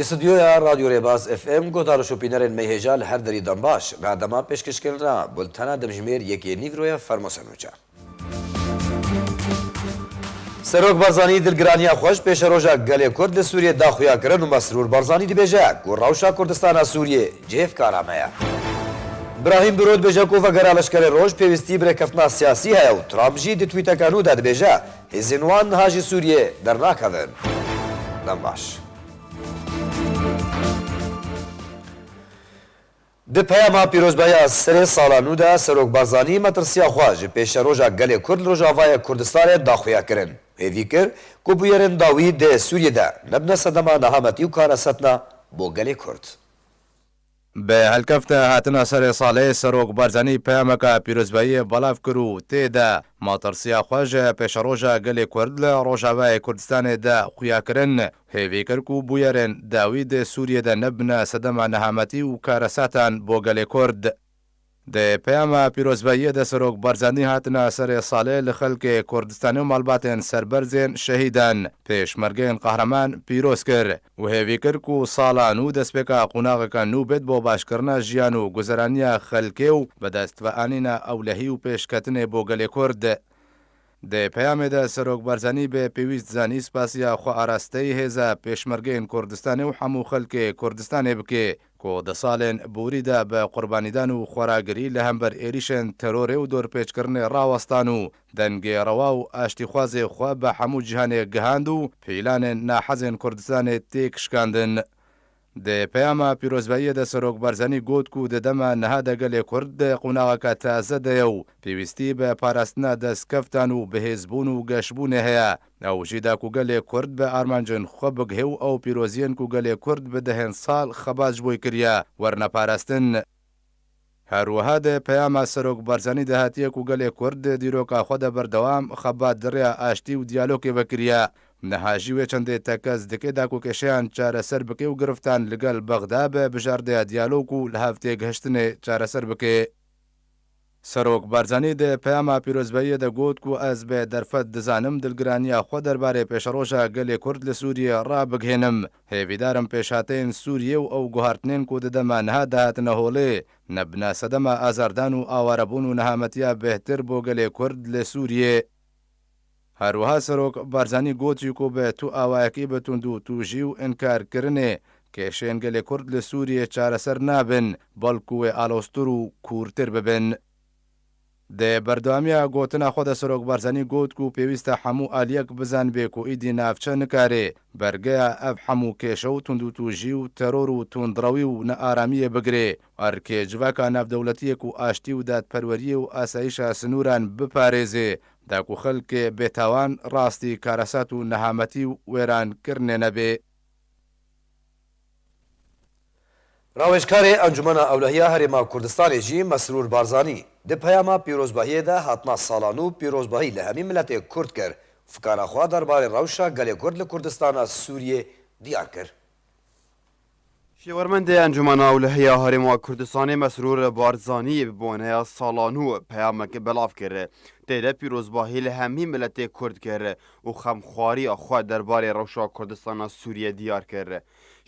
Li studyoya Radyo Rêbaz FM gotar û şopînerên meyhêja li her derî dembaş, berdema pêşkişkirin re bultena dimjimêr yekê Nîgroya Fermo Senûca. Serok Barzanî dilgiraniya xwe ji pêşeroja gelê Kurd li Sûriyê daxuya kirin û Mesrûr Barzanî dibêje ku rewşa Kurdistana Sûriyê Cihêvkara me ye. Brahîm Birod bêje ku vegera leşkerê roj pêwîstî bi rêkeftina siyasî heye û Trump jî di twîteka nû de dibêje, hêzên wan niha ji Sûriyê dernakevin. Dem baş. Di peyama pîrozbahiya serê sala nû de Serok Barzanî metirsiya xwe ji pêşeroja gelê Kurd li Rojavayê Kurdistanê daxuya kirin. Hêvî kir ku bûyerên dawî dê Sûriyê de nebine sedema nehametî û karesetna bo gelê Kurd. Bi hilkefte hatina serê salê Serok Barzanî peyameke pîrozbahiyê belav kir û tê de matirsiya xwe ji pêşeroja gelê Kurd li Rojavayê Kurdistanê de xuya kirin û hêvî kir ku bûyerên dawî dê Sûriyê de nebine sedema nehametî û karesetan bo gelê Kurd. Di peyama pîrozbahiyê de Serok Barzanî hatina serê salê li xelkê Kurdistanê û malbatên serberzên şehîdan, pêşmergeyên qehreman pîroz kir û hêvî kir ku sala nû destpêka qonaxeke nû bêt bo başkirina jiyan û guzeraniya xelkê û bidestveanîna ewlehî û pêşketinê bo gelê Kurd. Di peyamê de Serok Barzanî bê pêwîst zanî spasiya xwearasteyî hêza Pêşmergeyên Kurdistanê û hemû xelkê Kurdistanê bike ku di salên borî de bi qurbanîdan û xweragirî li hember êrîşên terorê û dorpêçkirinê rawestan û dengê rewa û aştîxwazê xwe bi hemû cîhanê gihand û pîlanên nahezên Kurdistanê têk şikandin. Di peyama pîrozbahiyê de Serok Barzanî got ku di dema niha de gelê Kurd di qonaxeke taze de ye û pêwîstî bi parastina destkeftan û bihêzbûn û geşbûnê heye. Ew jî da ku gelê Kurd bi armancên xwe bigihê û ew pîroziyên ku gelê Kurd bi dehên sal xebat ji bo kiriye, werine parastin. Her wiha di peyama Serok Barzanî de hatiye ku gelê Kurd di dîroka xwe de berdewam xebat di rêya aştî û diyalogê ve kiriye. Niha jî wê çendê tekez dike da ku kêşeyan çareser bike û giriftan li gel Bexda be bijardeya diyalog û li hev têgihiştinê çareser bike. Serok Barzanî di peyama pîrozbahiyê de got ku ez bi derfet dizanim dilgiraniya xwe derbarê pêşeroja gelê Kurd li Sûriyê rabigihênim. Hêvîdar im pêşhateyên Sûriyê û ew guhartinên ku di dema niha de hatine holê, nebine sedema azardan û awarebûn û nehametiya bêhtir bo gelê Kurd li Sûriyê. Herwiha Serok Barzanî gotiye ku bi tu awayekî bi tundûtûjî û înkarkirinê kêşên gelê Kurd li Sûriyê çareser nabin, belkû wê aloztir û kûrtir bibin. Di berdewamiya gotina xwe de Serok Barzanî got ku pêwîst e hemû aliyek bizanibê ku îdî navçe nikarê bergeya ev hemû kêşe û tundûtûjî û teror û tundrewî û nearamiyê bigirê Erkê civaka navdewletiyê ku aştî û dadperweriyê û asayîşa sinûran biparêzê, da ku xelkê bêtawan rastî karesat û nehametî û wêrankirinê nebe. Rawêjkarê Encûmena Ewlehiya Herêma Kurdistanê jî Mesrûr Barzanî, di peyama pîrozbahiyê de hatina sala nû pîrozbahî li hemî miletê Kurd kir û fikara xwe derbarê rewşa gelê Kurd li Kurdistana Sûriyê diyar kir. Şêwermendê Encûmena Ewlehiya Herêma Kurdistanê Mesrûr Barzanî bi boneya sala nû peyamek belav kir. Tê de pîrozbahî li hemî miletê Kurd kir û xemxwariya xwe derbarê rewşa Kurdistana Sûriyê diyar kir.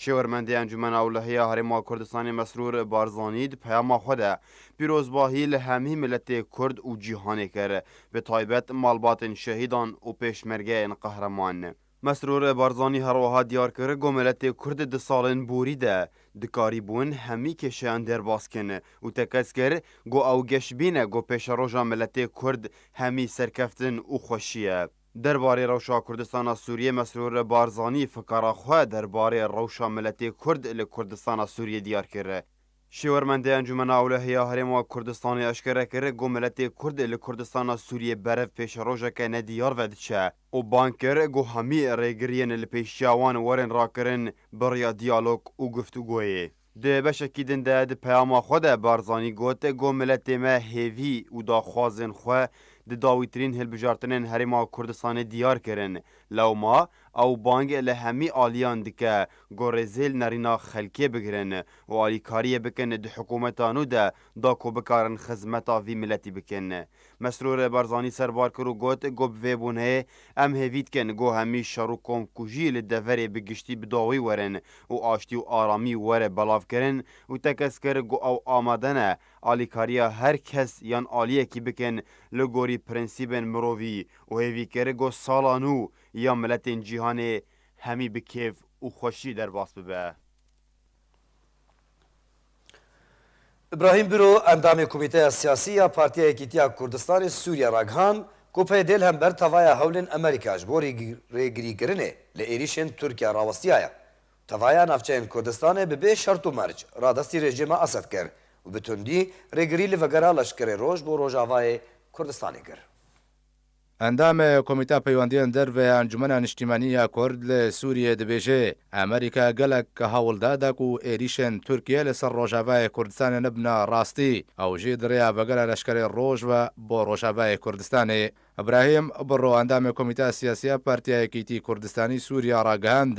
Şêwermendê Encûmena Ewlehiya Herêma Kurdistanê Mesrûr Barzanî di peyama xwe de pîrozbahî li hemî miletê Kurd û cîhanê kir, bi taybet malbatên şehîdan û pêşmergeyên qehreman. Mesrûr Barzanî her wiha diyar kir, Komeletê Kurd di salên borî de dikarîbûn hemî kêşeyan derbas kin û tekez kir ku ew geş bîne ku pêşeroja miletê Kurd hemî serkeftin û xweşî ye. Derbarê rewşa Kurdistana Sûriyê Mesrûr Barzanî fikara xwe derbarê rewşa miletê Kurd li Kurdistana Sûriyê diyar kir. Şêwermendê Encûmena Ewlehî ya Herêma Kurdistanê eşkere kir ku miletê Kurd li Kurdistana Sûriyê berev pêşerojeke nediyar ve diçe. û bang kir ku hemî rêgiriyên li pêş çiya wan werin rakirin bi riya diyalog û guftûgoyê. Di beşekî din de di peyama xwe de Barzanî got ku miletê me hêvî û daxwazên xwe di dawîtirîn hilbijartinên Herêma Kurdistanê diyar kirin, lewma ew bang li hemî aliyan dike ku rêzil nerîna xelkê bigirin û alîkariyê bikin di hikûmeta nû de da ku bikarin xizmeta vî miletî bikin. Mesrûr Barzanî serbar kir û got, Ku bi vê bûneyê em hêvî dikin ku hemî şer û komkujî li deverê bi giştî bi dawî werin û aştî û aramî were belavkirin û tekez kir ku ew amade ne alîkariya her kes yan aliyekî bikin li gorî prensîbên mirovî û hêvî kir ku sala nû ya miletên cîhanê hemî bi kêf û xweşî derbas bibe. Îbrahîm Biro endamê Komîteya Siyasî ya Partiya Yekîtiya Kurdistanê Sûrîye ragihand ku PYD'ê li hember tevaya hewlên Amerîka ji bo rêgirîkirinê li êrîşên Tirkiye rawistiyaye û tevaya navçeyên Kurdistanê bi bê şert û merc radestî rejîma Esed kir û bi tundî rêgirî li vegera leşkerê roj bo rojavayê Kurdistanê kir. Endamê Komîteya Peywendiyên Derve ya Encûmena Niştîmanî ya Kurd li Sûriyeyê dibêje, Amerîka gelek hewldar da ku êrîşên Tirkiyeyê li ser Rojavayê Kurdistanê nebine rastî, ew jî di rêya vegera leşkerê roj ve bo Rojavayê Kurdistanê. Îbrahîm Birro endamê Komîteya Siyasî ya Partiya Yekîtî Kurdistanî Sûriya ragihand,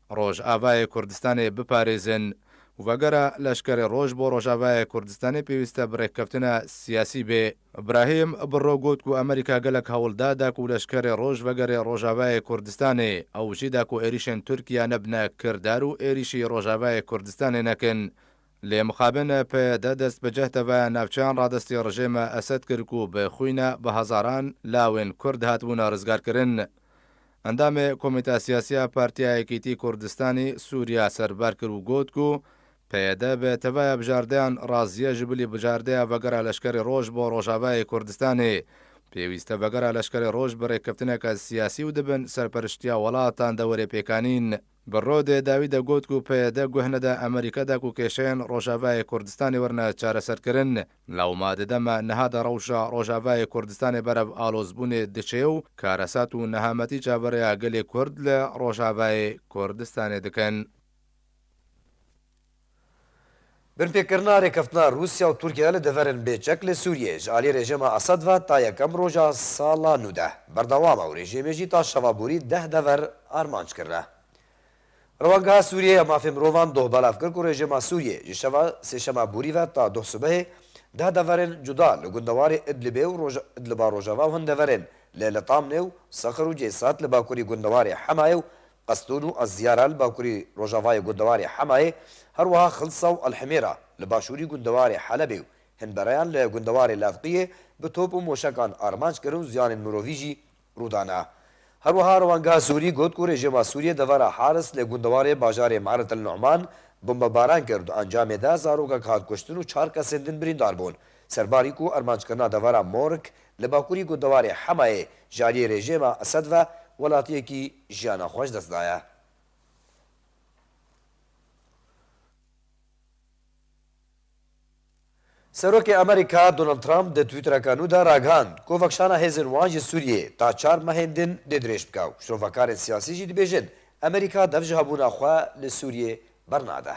Rojavayê Kurdistanê biparêzin. Vegera leşkerê roj bo Rojavayê Kurdistanê pêwîste bi rêkeftina siyasî bê. Brahim Birro got ku Amerîka gelek hewldar da ku leşkerê roj vegerê Rojavayê Kurdistanê. Ew jî da ku êrîşên Tirkiya nebine kirdar û êrîşî Rojavayê Kurdistanê nekin. Lê mixabin PYD dest bi cehd ve navçeyan radestî rejêma Esed kir ku bi xwîna bi hezaran lawên Kurd hatibûna rizgarkirin. Endamê Komîta Siyasî ya Partiya Yekîtî Kurdistanî Sûriya serbar kir û got ku PYD bi teveya bijardeyan razîye ji bilî bijardeya vegera leşkerê roj bo Rojavayê Kurdistanê. Pêwîste vegera leşkerê roj bi rêkeftineke siyasî û dibin serperiştiya welatan dewerê pêk anîn. Bi Rodê dawî de got ku PYD guh neda Amerîka de ku kêşeyên Rojavayê Kurdistanê werne çareserkirin. Lewma di dema niha de rewşa Rojavayê Kurdistanê berev alozbûnê diçê û karesat û nehametî çaverêya gelê Kurd li Rojavayê Kurdistanê dikin. Binpêkirina rêkeftina Rûsya û Tirkiye li deverên bêçek li Sûriyeyê ji aliyê rejîma Esed ve ta yekem roja sala nû de berdewam e û rejîmê jî ta şeva borî deh dever armanc kirine. Rewangeha Sûriyeyê ya Mafên Mirovan doh belav kir ku rejîma Sûriyê ji şeva sêşema borî ve ta doh sibehê deh deverên cuda li gundewarê Idlibê û Idliba rojava û hin deverên li Litamnê û Sakr û Ceysat li bakurî gundewarê Hemayê û Qestûnû a Ziyara li bakurî rojavayê gundewarê Hemayê, her wiha Xilsa û Elhimêra li başûrî gundewarê Helebê û hin bereyan li gundewarê Levqiyê bi top û moşekan armanc kirin û ziyanên mirovî jî rû dane. Her wiha rewanga Sûrî got ku rejîma Sûriyê devera Haris li gundewarê bajarê Me'ret El Nu'man bombebaran kir û di encamê de zarokek hat kuştin û çar kesên din birîndar bûn. Serbarî ku armanckirina devera Morg Li bakurî ku diwarê Hemayê ji aliyê rejêma Esed ve welatiyekî jiyana xwe ji dest daye. Serokê Amerîka Donald Trump di twîtereke nû de ragihand ku vekişana hêzên wan ji Sûriyê ta çar mehên din dê dirêj bike û şrovakarên siyasî jî dibêjin Amerîka dev ji hebûna xwe li Sûriyê bernade.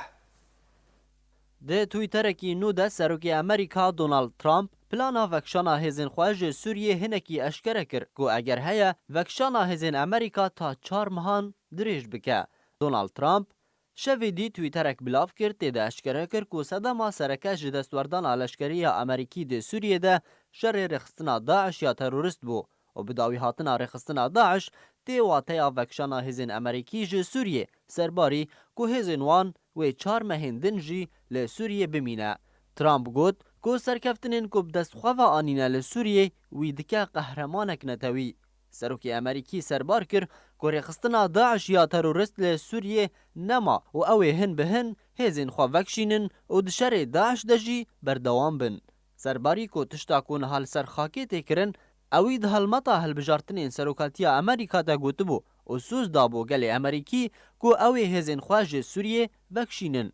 Di twîterekî nû de Serokê Amerîka Donald Trump plana vekişana hêzên xwe ji Sûriyê hinekî eşkere kir ku eger heye vekişana hêzên Amerîka ta çar mehan dirêj bike. Donald Trump şevê dî twîterek belav kir tê de eşkere kir ku sedema sereke ji destwerdana leşkerî ya Amerîkî di Sûriyê de şerê rêxistina DAIŞ ya terorist bû. û bi dawîhatina rêxistina DAIŞ tê wateya vekişana hêzên Emerîkî ji Sûriyê ser barî ku hêzên wan wê çar mehên din jî li Sûriyê bimîne. Trump got ku serkeftinên ku bi dest xwe ve anîne li Sûriyê wî dike qehremanek netewî. Serokê Emerîkî serbar kir ku rêxistina DAIŞ ya terorist li Sûriyê nema û ew ê hin bi hin hêzên xwe vekişînin û di şerê DAIŞ de jî berdewam bin. Serbarî ku tişta ku niha li ser xakê tê kirin, ewî di helmeta hilbijartinên serokaltiya Amerîka de gotibû û soz dabû gelê Amerîkî ku ew ê hêzên xwe ji Sûriyê vekişînin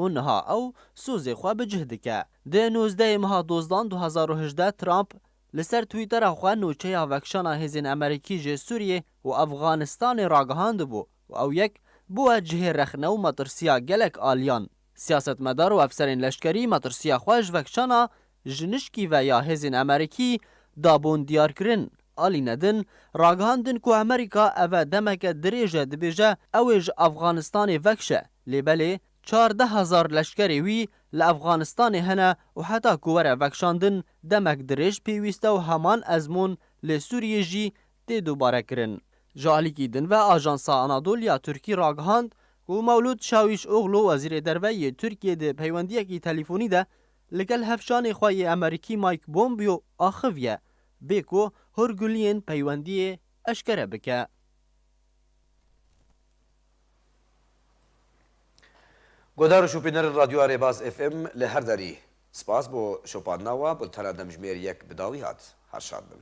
û niha ew sozê xwe bi cih dike. Di nozdehê meha Dozdan du hezar û hejdeh Trump li ser Twittera xwe nûçeya vekişana hêzên Amerîkî ji Sûriyê û Efxanistanê ragihandibû û ew yek bûye cihê rexne û metirsiya gelek aliyan. Siyasetmedar û efserên leşkerî metirsiya xwe ji vekçana jinişkî ve ya hêzên Amerîkî dabûn diyarkirin. Alî Nedin, ragihandin ku Amerîka ev e demeke dirêj e dibêje ew ê ji Efxanistanê vekşe, lê belê çardeh hezar leşkerê wî li Efxanistanê hene û heta ku were vekşandin demek dirêj pêwîst e û heman ezmûn lê Sûriyê jî tê dobarekirin. Ji alîkî din ve ajansa Anadolu ya Tirkî ragihand ku Mewlûd Çawîşoglu wezîrê derve yê Tirkiyê di peywendiyekî telîfonî de ligel hevşanê xwe yê Amerîkî Mike Pompeo axiviye bê ku hûrguliyên peywendiyê eşkere bike. Guhdar û şopînerên Radyoya Rêbaz FM li her derî, spas bo şopandina we, bultena demjimêr yek bi dawî hat. Her şad bin.